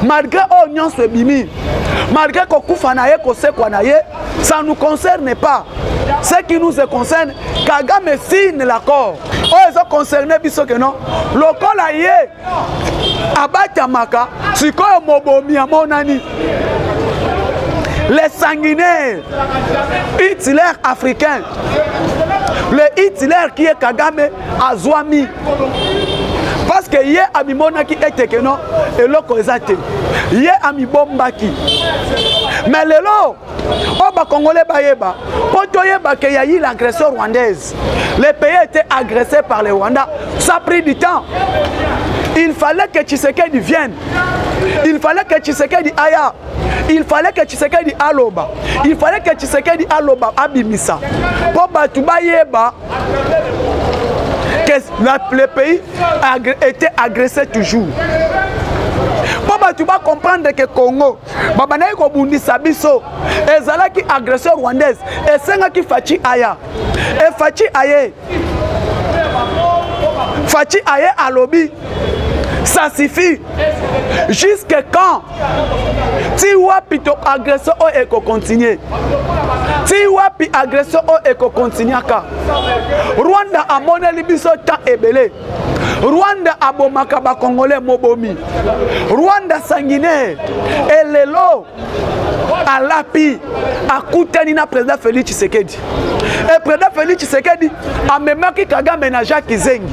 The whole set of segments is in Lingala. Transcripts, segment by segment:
malgré oyo nyonso ebimi malgré kokufa na ye kosekwa na ye ça nous concerne pas ce qui nous concerne kagame signe l'accord oyo ezo concerne biso ke non lokola ye abatamaka sikoyo mobomi amonani les sanguinaires hitler africain le hitler qui est kagame azwami parce que ye amimonaki ete keno eloko eza te ye amibombaki mais lelo oyo bakongole bayeba mpo toyeba ke ya ile agression rwandaise le pays était agressé par le rwanda ça pris du temps il fallait que tshisekedi vienne il fallait que tshisekedi aya il fallait que tshisekedi aloba il fallait que tshisekedi aloba abimisa mpo bato bayeba que la, le pays agr était agressé toujours mpo bato bacomprendre ke congo babandaki kobundisa biso ezalaki agression rwandaise esengaki faci aya e faci aye faci aye alobi ça suffit jusque quand ti wapi to agression oyo oh, ekokontinue ti wapi agression oyo oh, ekokontinuaka rwanda amoneli biso temps ebele rwanda abomaka bakongole mobomi rwanda sanguinaire elelo alapi akutani na président félix tshisekedi e président félix tshisekedi amemaki kagame na jacques kizengi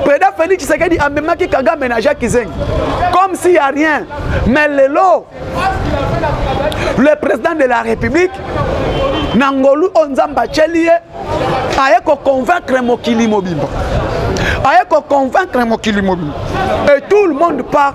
président félix tshisekedi amemaki kagame na jacques kizengi comme s'il y a rien mais lelo le président de la république na ngolu oyo nzambe atyeli ye aye koconvaincre mokili mobimba aye koconvaincre mokili mobimba et tout le monde part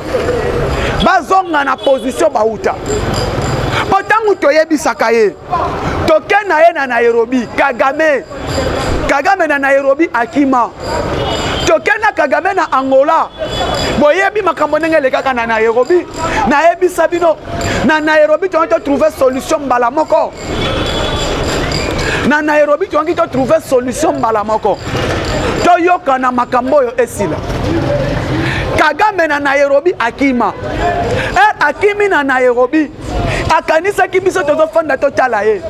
bazonga na position bauta mpo ntango toyebisaka ye toke na ye na nairobi kagame kagame na nairobi akima toke na kagame na angola boyebi makambo ndenge elekaka na nairobi nayebisa bino na nairobi toyaki totrouve solution mbala moko na nairobi toyangi totrouve solution mbala moko toyokana makambo oyo esila kagame na nairobi akima e akimi na nairobi akanisaki biso tozofanda totala ye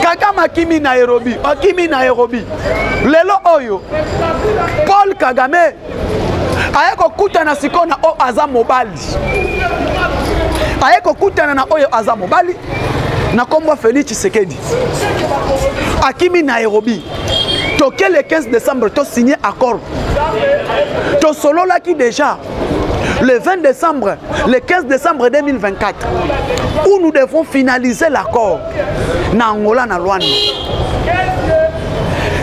kagame akimi nairobi akimi nairobi lelo oyo paul kagame aye kokutana sikoyo na oyo aza mobali aye kokutana na oyo aza mobali na nkombo ya félix tshisekedi akimi nairobi toke le 15 décembre tosigne accord tosololaki déjà le 20 décembre, le 15 décembre 2024, où nous devons finaliser l'accord na Angola na Luanda.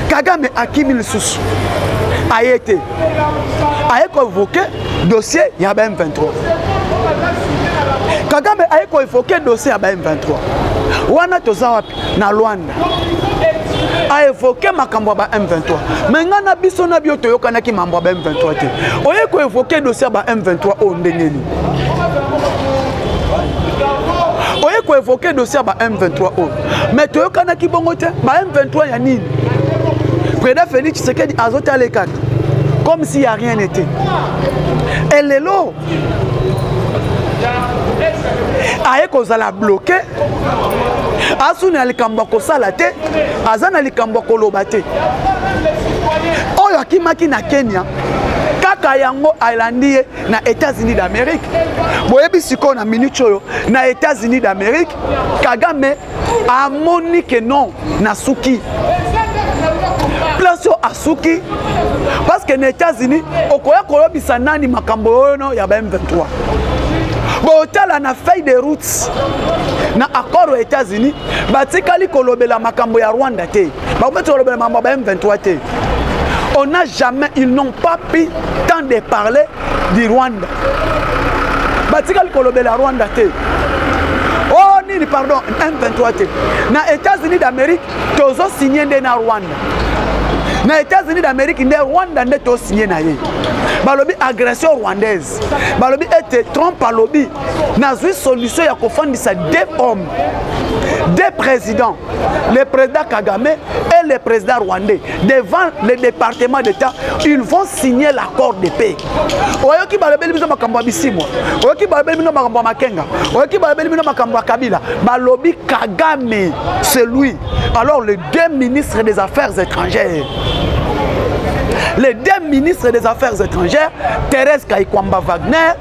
Kagame akimi lisusu ayete aye koevoke dossier ya ba m23 kagame aye koevoke dossier ya ba m23 wana toza wapi na lwanda aevoke makambo ya ba m23 me ngai na biso na bio toyokanaki mambo ya ba m23 te oye koevoke dossier ya ba m23 oyo ndenge nini oye koevoke dossier ya ba m23 oyo mais toyokanaki bongo te ba m23 ya nini président félix tshisekedi azotale kaka comme si ya rien n'était e lelo aye kozala bloke asu na likambo ya kosala te aza na likambo ya koloba te oyo akimaki na kenya kaka yango alandi ye na états-unis d'amérique boyebi sikoyo na minute oyo na états-unis d'amérique kagame amoni ke non nasuki place oyo asuki parce que na états-unis okoya koyebisa nani makambo oyono ya ba m23 botala na feuille de route na accord ya états-unis batikali kolobela makambo ya rwanda te bakometi kolobela makambo ya ba m23 te on n'a jamais ils n'ont pas pu temps de parler di rwanda batikali kolobela rwanda te o oh, nini pardon m23 te na états-unis d'amérique tozosigne nde na rwanda na états-unis d'amérique nde rwanda nde tosigne na ye balobi agression rwandaise balobi ete trump alobi nazwi solution ya kofandisa deux hommes deux présidents le président Kagame et le président rwandais devant le département d'État, ils vont signer l'accord de paix. oyoki balobeli bino makambo ya bisimwa oyoki balobeli bino makambo ya makenga oyoki balobeli bino makambo ya kabila balobi kagame c'est lui alors les deux ministres des affaires étrangères les deux ministres des affaires étrangères thérèse kaikwamba wagner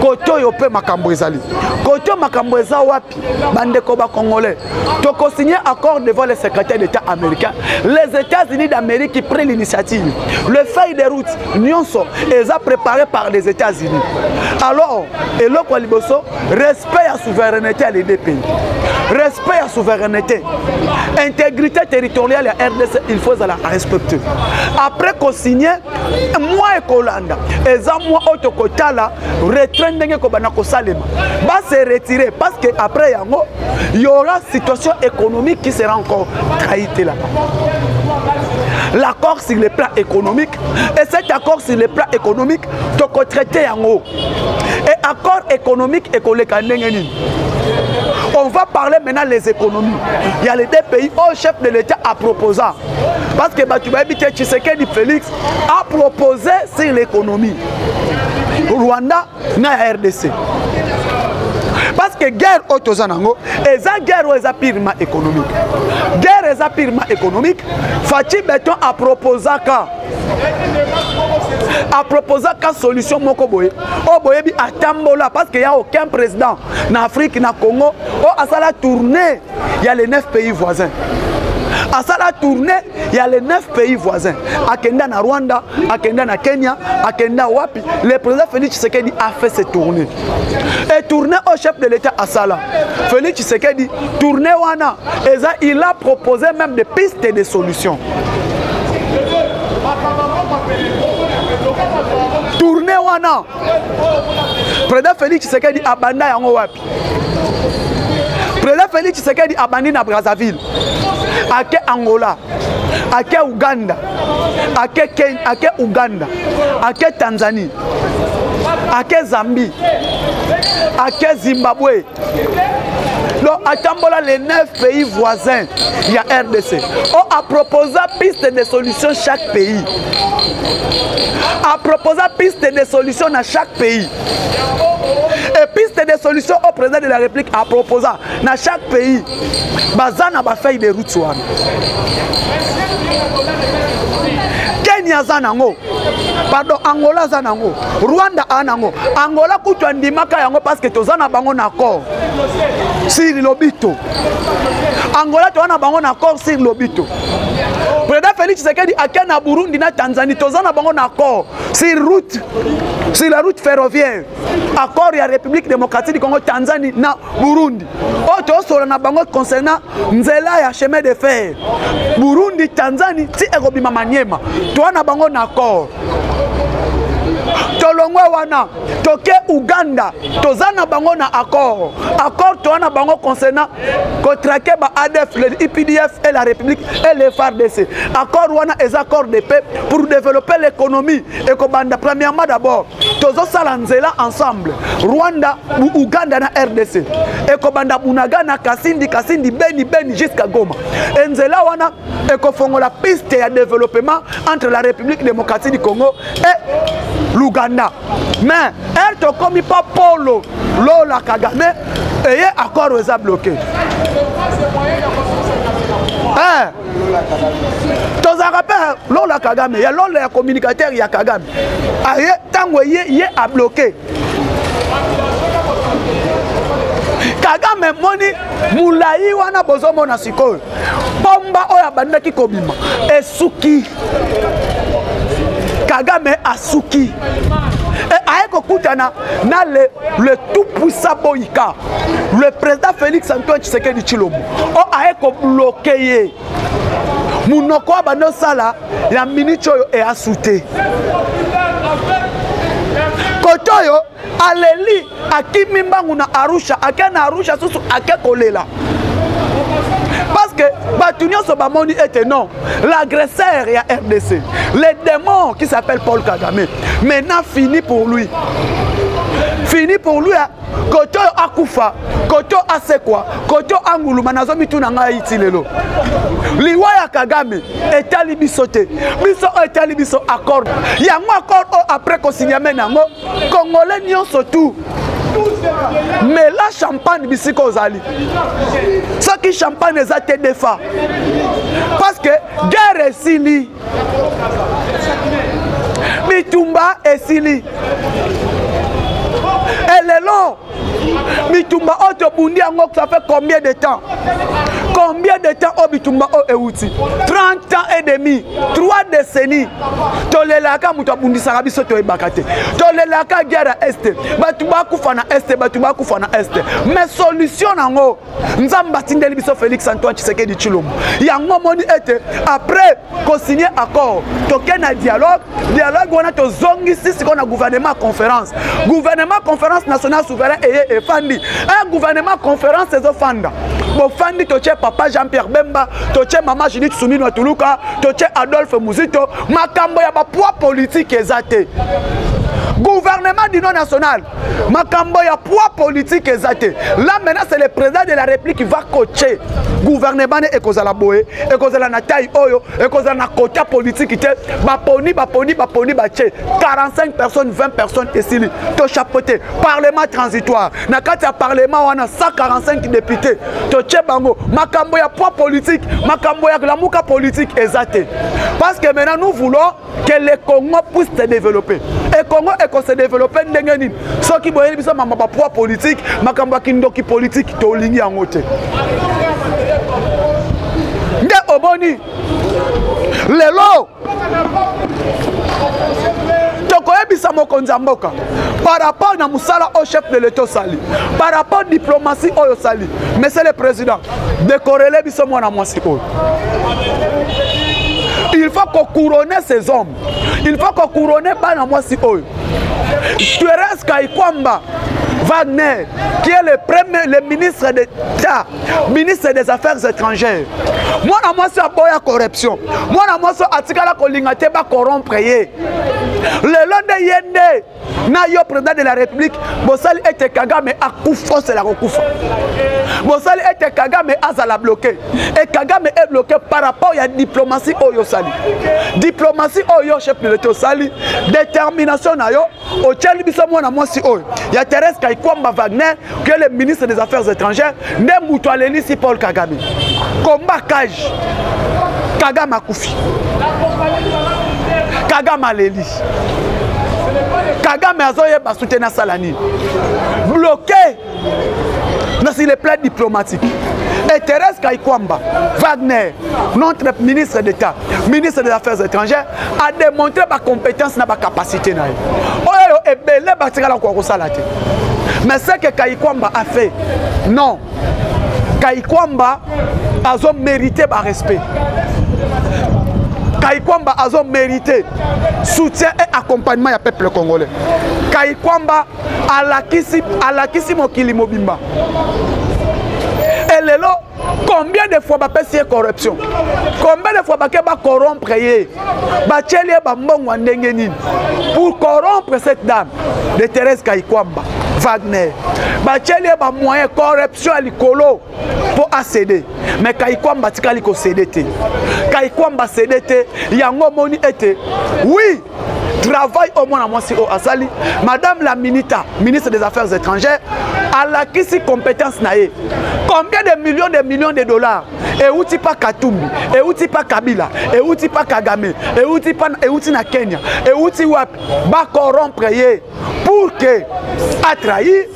kote oyo mpe makambo ezali kote oyo makambo eza wapi bandeko bacongolais tokosigne accord devant le secrétaire d'état américain les états-unis d'amérique qui prit l'initiative le feuille de route nyonso eza préparé par les états-unis alors eloko ya liboso respect ya souveraineté ya les deux pays respect ya souveraineté intégrité territoriale ya rdc il faut ezala respecte après kosigne mwa ekolanda eza mwa oyo tokotala retrait ndenge ekobanda kosalema base retire parce que après yango y aura situation économique qui sera encore traite là l'accord sur le plan économique et cet accord sur le plan économique tokotraite yango et accord économique ekoleka ndenge nini on va parler maintenant les économies il y a les deux pays au chef de l'état à proposa parce que bato bayebi te tshisekedi félix a proposé sur l'économie rwanda na ya rdc parce que guerre oyo toza nango eza guerre oyo eza purement économique guerre eza purement économique faci beton aproposaka aproposaka solution moko boye oyo boyebi atambola parce que ya aucun président na afrique na congo oyo asala tourne ya les 9 pays voisins asala tourne ya les 9 pays voisins akenda na rwanda akenda na kenya akenda wapi le président félix tshisekedi a fait ce tourne e tourne au chef de l'état asala félix tshisekedi tourne wana eza il a proposé même des pistes et des solutions tourne wana président félix tshisekedi abanda yango wapi Président Félix Tshisekedi abandi na Brazzaville. Ake Angola. Ake Ouganda. Ake Kenya, ake Ouganda. Ake Tanzanie. Ake Zambie. Ake Zimbabwe. donc atambola les neuf pays voisins ya rdc o aproposa piste de solution chaque pays aproposa piste de solution na chaque pays et piste de solution au président de la république à proposer na chaque pays baza na bafeuille de route wana kenya aza nango pardon angola aza nango rwanda aa nango angola kutu andimaka yango parceke toza na bango na accord siri lobito angola toza na bango na accord siri lobito président félix tshisekedi ake na burundi na tanzanie toza na bango na accord sur route sur la route ferroviaire accord ya république démocratique du congo tanzanie na burundi oyo tozosola na bango concernant nzela ya chemin de fer burundi tanzanie ti ekobima maniema toa na bango na accord tolongwe wana toke uganda toza na bango na accord accord toa na bango concernant kotrake ba adf le ipdf et la république et le fardc accord wana eza accord de paix pour développer l'économie ekobanda premièrement d'abord tozosala nzela ensemble rwanda uganda na rdc ekobanda bunagana kasindi kasindi beni beni jusqu'à goma enzela wana ekofongola piste ya développement entre la république démocratie du congo et l'ouganda mais ere tokomi mpo polo lola kagame eye accord eza bloqué eh. tozalaka mpe lola kagame ya lola ya communicateur ya kagame aye ntango ye ye abloke kagame moni molai wana bozomona sikoyo pomba oyo abandaki kobima esuki kagame asuki eh, aye kokutana na le, le tout puissant boyika le président félix antoine tshisekedi tshilombo o oh, aye kobloke ye monoko oyo banda osala ya miniti oyo easu te kote oyo aleli akimi mbangu na arusha ake na arusha susu ake kolela parce que bato nyonso bamoni ete non l'agresseur ya rdc le démon qui s'appelle paul kagame maintenant fini pour lui fini pour lui koto oyo akufa koto asekwa koto anguluma nazo mituna ngai ti lelo liwa ya kagame etali biso te biso oyo etali biso accord yango accord oyo après kosinyame na yango congolais nyonso tu mela champagne bisika ozali soki champagne eza te defa parce que guerre esili bitumba esili elelo bitumba oyo tobundi yango ça fait combien de temps combien de temps oyo bitumba oyo euti 30 ans et demi 3 décennies tolelaka moto abundisaka biso toyebaka te tolelaka guerre ya este bato bakufa na este bato bakufa na este mais solution nango nzambe atindeli biso félix antoine tshisekedi tshilombo yango omoni ete après kosigne accord tokei na dialogue dialogue wana tozongisi sikoyo na gouvernement conférence gouvernement conférence national souverain eye efandi un gouvernement conférence ezofanda bofandi totie papa jean pierre bemba totie mama judith suminwa tuluka totie adolphe muzito makambo ya bapoids politike eza te gouvernement d'union nationale makambo ya poids politique eza te là maintenant c'est le président de la république qui va coacher gouvernement ne ekozala boye ekozala na taille oyo ekozala na kota politique te baponi baponi baponi batie 45 personnes 20 personnes esili tochapote parlement transitoire na kati ya parlement wana 145 député totie bango makambo ya poids politique makambo ya lamuka politique eza te parce que maintenant nous voulons que le congo puisse se développer e congo ekose développer ndenge nini soki boyeli biso mama bapoids politique makambo ya kindoki politique tolingi yango te nde oboni lelo tokoyebisa mokonzi ya mboka par rapport na mosala oyo chef de l'etat osali par rapport diplomatie oyo osali monsieur le président dekorele biso mwana mwasi oyo il faut kocourone ces hommes il faut kocourone bana mwasi oyo therese kaikwamba Wagner, qui est le premier, le ministre d'État, ministre des Affaires étrangères. Moi, na moi, c'est boya corruption. Moi, na moi, c'est atikala kolinga te ba corrompre ye. Le long de yende, na yo président de la république bosali ete kagame akufa osela kokufa bosali ete kagame azala bloqué e kagame est bloqué par rapport ya diplomatie oyo osali diplomatie oyo chef de l'état osali détermination na yo otyali biso mwana mwasi oyo ya therese kaikwamba wagner que le ministre des affaires étrangères nde moto alelisi paul kagame combat cage kagame akufi kagame aleli kagame azoyeba soutien asala nini bloqué na sur le plan diplomatique et Thérèse Kaikwamba Wagner notre ministre d'État ministre des affaires étrangères a démontrer ba compétence na ba capacité na ye oyo ebele batikala koka kosala te mais ce que kayikwamba a fait non kayikwamba azo mérité ba respect kayikwamba azo mérité soutien et accompagnement ya peuple congolais kayikwamba alakisi alakisi mokili mobimba elelo combien de fois bapesi ye corruption combien de fois bake bacorompre ye batyeli ye bambongo ya ndenge nini pour corompre cette dame de thérèse kaikwamba wagner batyeli ye bamoyen corruption ya likolo mpo asede me kaikwamba atikali kosede te kaikwamba asede te yango omoni ete wi travail oyo mwana mwasi oyo asali madame la minita ministre des affaires étrangères alakisi compétence na ye combien de millions de millions de dollars euti pa katumbi euti pa kabila euti pa kagame euti pa euti na kenya euti wapi bakorompre ye pour que atrahi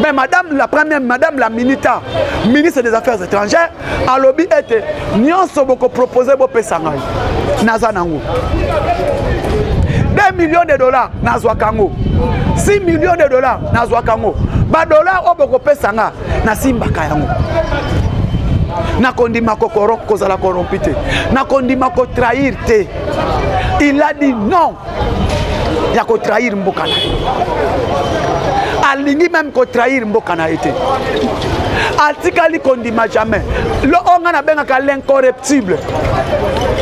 mais madame la première madame la minita ministre des affaires étrangères alobi ete nyonso bokopropose bopesa ngai naza nango 2 millions de dollars nazwaka yango 6 millions de dollars nazwaka yango badollars oyo bokopesa nga nasimbaka yango nakondima kozala korompi te nakondima kotrahir te il a dit non ya kotrahir mboka na ye alingi meme kotrahir mboka na ye te atikali kondima jamais lo oyo ngai nabengaka l'incorreptible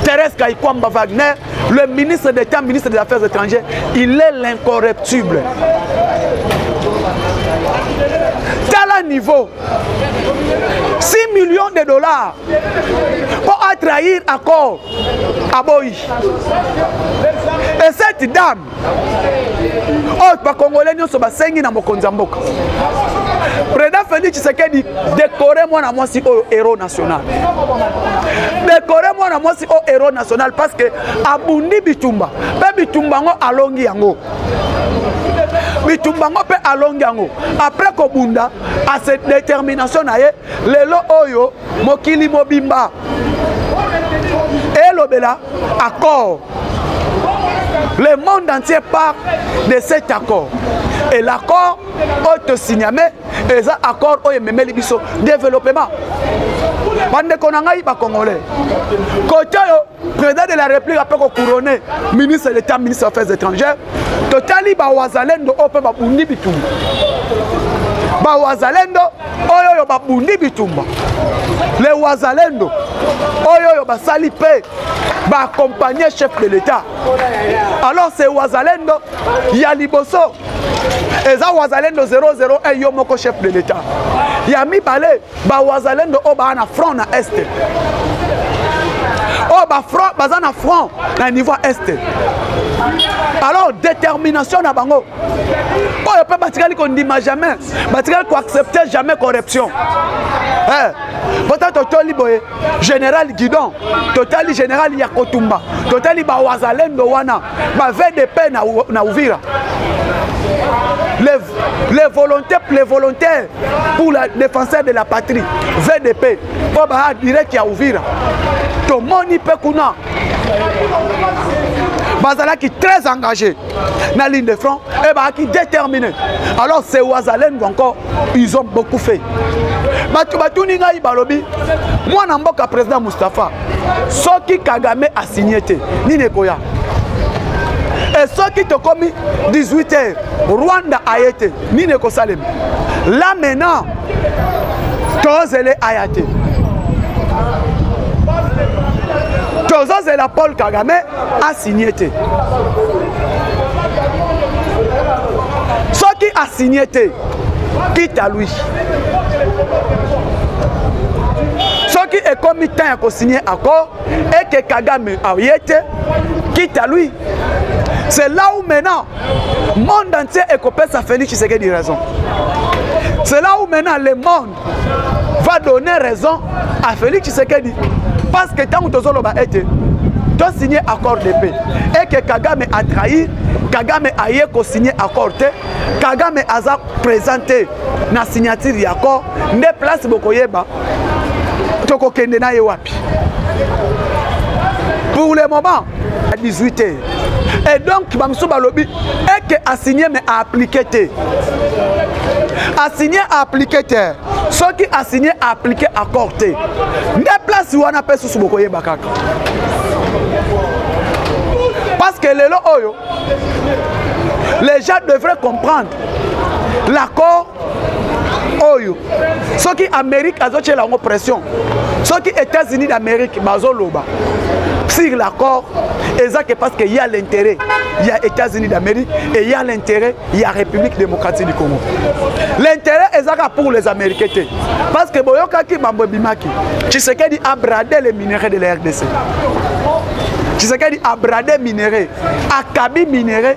thérèse kaikwamba wagner le ministre d'état ministre des affaires étrangères il est l'incorreptible tala niveau 6 millions de dollars mpo atrahir accord aboyi et cette dame oyo oh, bakongole nyonso basengi na mokonzi ya mboka président félix tshisekedi décoré mwana mwasi oyo héros national décoré mwana mwasi oyo héros national parce que abundi bitumba mpe bitumba yango alongi yango bitumba yango mpe alongi yango après kobunda ase détermination na ye lelo oyo mokili mobimba elobela accord le monde entier part de cet accord et l'accord oyo tosigname eza accord oyo ememeli biso développement bandeko na ngai bacongolais kote oyo président de la république ape kocouronne ministre d'état ministre affaires étrangères totali bawazalendo oyo mpe babundi bitumba bawazalendo oyo oyo babundi bitumba le wazalendo oyo oyo basali mpe baakompagne chef de l'état alors se wazalendo ya liboso eza wazalendo 001 yo moko chef de l'état ya mibale bawazalendo oyo baa na front na est oyo bafront baza na front na niveau ya est alors détermination na bango oyo mpe batikali kondima jamais batikali koaccepte jamais corruption eh, pota totoli boye général guidon totali général ya kotumba totali bawazalendo wana bavdp na, na uvira les, les volontés les volontaires pour la défenseur de la patrie vdp mpo baa direct ya uvira tomoni mpe kuna bazalaki très engagé na ligne de front et baaki déterminé alors c'est wazalendo encore ils ont beaucoup fait bato batuni ngai balobi mwana mboka président mustapha soki kagame asigne te nini ekoya e soki tokomi 18 heures rwanda aye te nini ekosalema la maintenant tozele aya te tozozela paul kagame asigne te soki asigne te kita lui soki ekomi temps ya kosigne accord eke kagame aye te kita lui c'est là où maintenant monde entier ekopesa félix tshisekedi raison c'est là où maintenant le monde va donner raison à félix tshisekedi parce que ntango tozoloba ete tosigne accord de paix eke kagame atrahir kagame aye kosigne accord te kagame aza présente na signature ya accord nde place bokoyeba tokokende na ye wapi pour le moment à 18 heures et donc bamosusu balobi eke asigne mais aaplike te asigne aaplike te soki asigne aaplike accord te nde place wana mpe susu bokoyeba kaka parce que lelo oyo les gens devraient comprendre l'accord oyo soki amérique azotyela yango pression soki états-unis d'amérique bazoloba sur l'accord eza ke parce que ya l'intérêt ya états-unis d'amérique et ya l'intérêt ya république démocratique du congo l'intérêt ezaka pour les américains te parce que boyokaki mambo ebimaki tshisekedi a brade les minerais de la rdc tshisekedi a brade minerais akabi minerais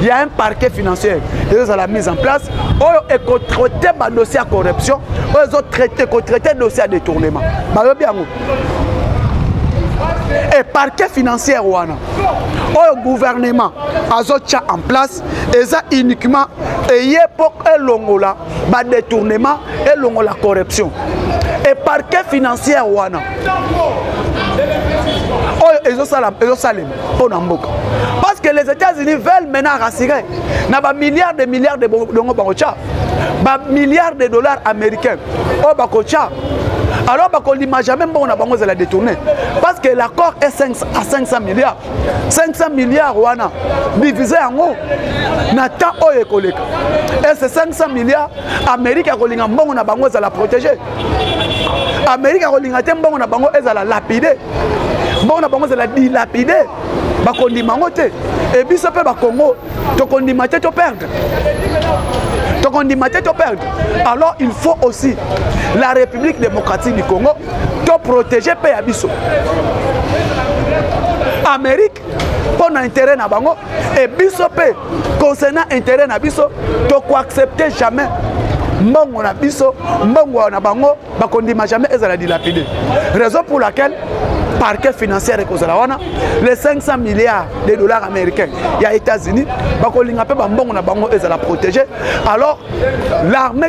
Il y a un parquet financier ezozala mise en place oyo ekotraite badossier ya corruption oyo ezotraite ekotraite dossier ya détournement bayobi yango e parquet financière wana oyo gouvernement azotya en place eza uniquement eye mpo elongola badetournement elongola corruption e parquet financière wana oyo ezosalema mpo na mboka parce que les états-unis veulent maintenant rassurer na bamilliards de milliards de dongo bakotya bamilliards de dollars américains oyo oh, bakotya alors bakolima jamais mbongo na bango ezala détourné parce que l'accord est 5, à 500 milliards 500 milliards wana divise yango na temps oyo ekoleka est ce 500 milliards amérique akolinga mbongo na bango ezala protégé amerika akolinga te mbongo na bango ezala lapide mbongo na bango ezala dilapide bakondima yango te e biso mpe bakongo tokondima te toperdre tokondima te toperdre alors il faut aussi la république démocratique du congo toprotege mpe ya biso amérique mpo na intérêt na bango e biso mpe concernant intérêt na biso tokoaccepte jamais mbongo na biso mbongo na bango bakondima jamais ezala dilapide raison pour laquelle parquet financière ekozala wana les 500 milliards de dollars américains ya états-unis bakolinga mpe bambongo na bango ezala protégé alors l'armée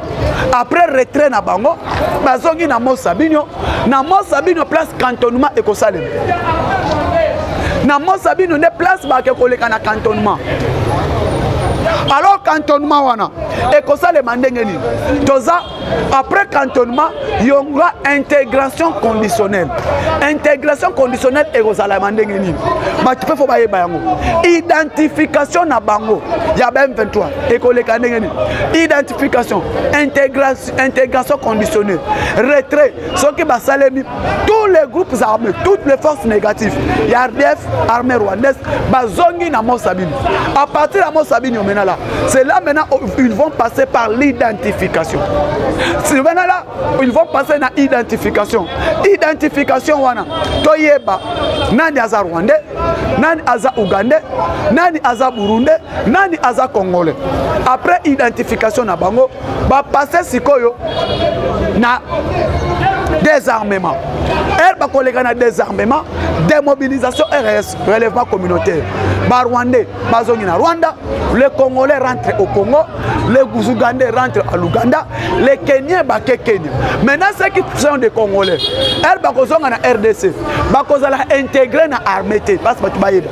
après retrait na bango bazongi na mont sabinio na mont sabinio place cantonnement ekosalema na mont sabinio nde place bake koleka na cantonnement alors cantonnement wana ekosalema ndenge nini toza après cantonnement yonga intégration conditionnelle intégration conditionnelle ekozalama ndenge nini bato mpe fo bayeba yango identification na bango ya ba m23 ekoleka ndenge nini identification intégration conditionnée retrait soki basalemi tous les groupes armés toutes les forces négatives ya rdf armée rwandaise bazongi na mosabini à partir ya mosabini omenala c'est là maintenant ils vont passer par l'identification simenala ils vont passer na identification identification wana toyeba nani aza rwandais nani aza ougandais nani aza burundais nani aza congolais après identification na bango bapasse sikoyo na désarmement ere bakoleka na désarmement démobilisation rs relèvement communautaire barwandais bazongi na rwanda le congolais rentre au congo le ougandais rentre à l'ouganda le kenien bake kenya maintenant ce qui sont des congolais ere bakozonga na rdc bakozala intégré na armée te basi bato bayeba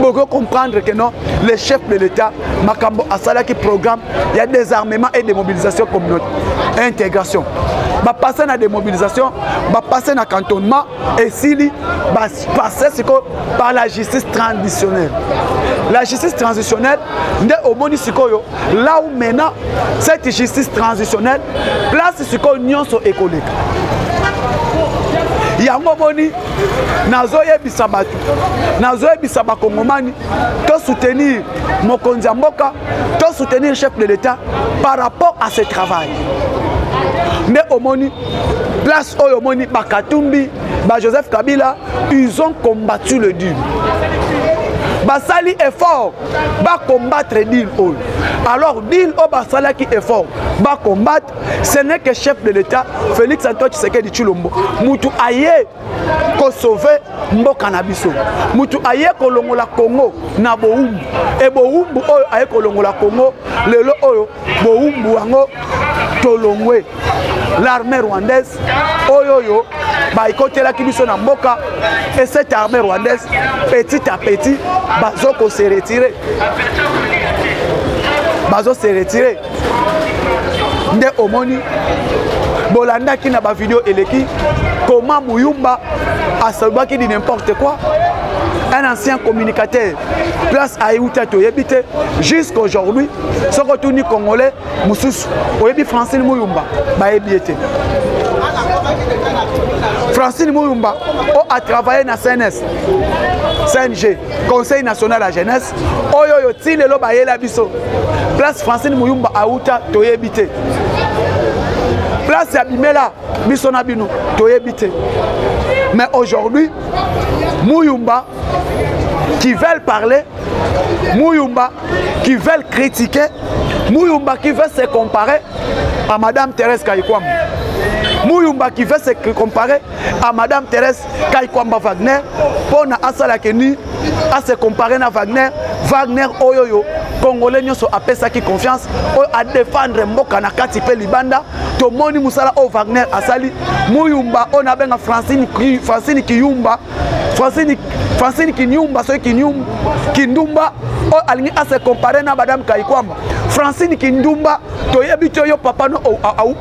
bokoki comprendre que non le chef de l'état makambo asalaki programme ya désarmement et démobilisation communaute intégration bapasse na démobilisation bapasse na cantonnement esili bapasse sikoyo par la justice traditionnelle la justice transitionnelle nde omoni sikoyo là où maintenant cette justice transitionnelle place sikoyo nyonso ekoleka yango omoni nazoyebisa bato nazoyebisa bakongomani to soutenir mokonzi ya mboka to soutenir chef de l'état par rapport à ce travail nde omoni place oyo omoni bakatumbi ba joseph kabila ils ont combattu le dul basali effort bacombattre deal oyo alors deal oyo basalaki effort bacombattre Ce n'est que chef de l'État, Félix Antoine Tshisekedi Chulombo. Mutu aye ko sauver mboka na biso. Mutu aye ko longola Congo na boumbu. Et boumbu oyo aye ko longola Congo, lelo oyo boumbu yango tolongwe. L'armée rwandaise oyo oyo baikotelaki biso na mboka et cette armée rwandaise petit à petit bazo ko se retirer. Bazo se retirer. nde omoni bolandaki na bavideo eleki koma muyumba asalobaki di n'importe quoi un ancien communicateur place ayeuta toyebi te jusqu'à aujourd'hui soki otuni congolais mosusu oyebi francine muyumba bayebi ye te francine muyumba o atravaille na cns cng conseil national ya jeunesse oyo oyo ti lelo bayela biso place francine muyumba auta toyebi te place ya bimela biso na bino toyebi te mais aujourd'hui muyumba qui veulent parler muyumba qui veulent critiquer muyumba qui veut se comparer à madame thérèse kayikwam muyumba qui veut se comparer à madame thérèse kai kwamba wagner mpo na asala keni ase compare na wagner wagner oyo oyo congolais nyonso apesaki confiance oyo adefendre mboka na kati mpe libanda tomoni mosala oyo wagner asali muyumba oyo nabenga francine, francine kiyumba francine, francine kinyumba soki kindumba oyo alingi ase compare na madame kaikwamba francine kindumba toyebi te yo papa no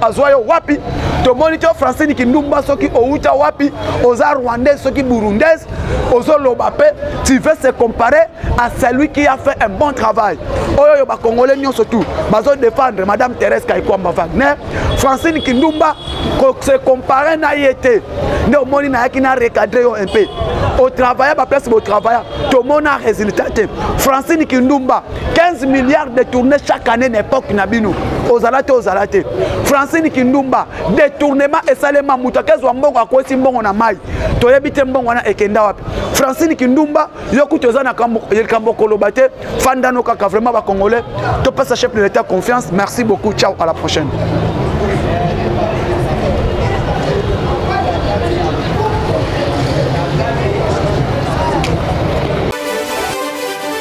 azwa yo wapi tomoni te francine kindumba soki outa wapi oza rwandaise soki burundaise ozoloba mpe tu veux se comparer à celui qui a fait un bon travail oyo oyo bakongole nyonso tu bazodefendre madame thérèse kaikwamba wagner francine kindumba se comparer na ye te nde omoni nayaki na recadre yo un peu otravailla baplace botravailla tomona résultat te francine kindumba 15 milliards détournés chaque année na époque na bino ozala te ozala te francine kindumba détournement esalema moto akezwa mbongo akwesi mbongo na mai toyebi te mbongo wana ekenda wapi francine kindumba yo kutu eza na likambo koloba te fandano kaka vraiment bacongolais topesa chef de l'état confiance merci beaucoup ciao à la prochaine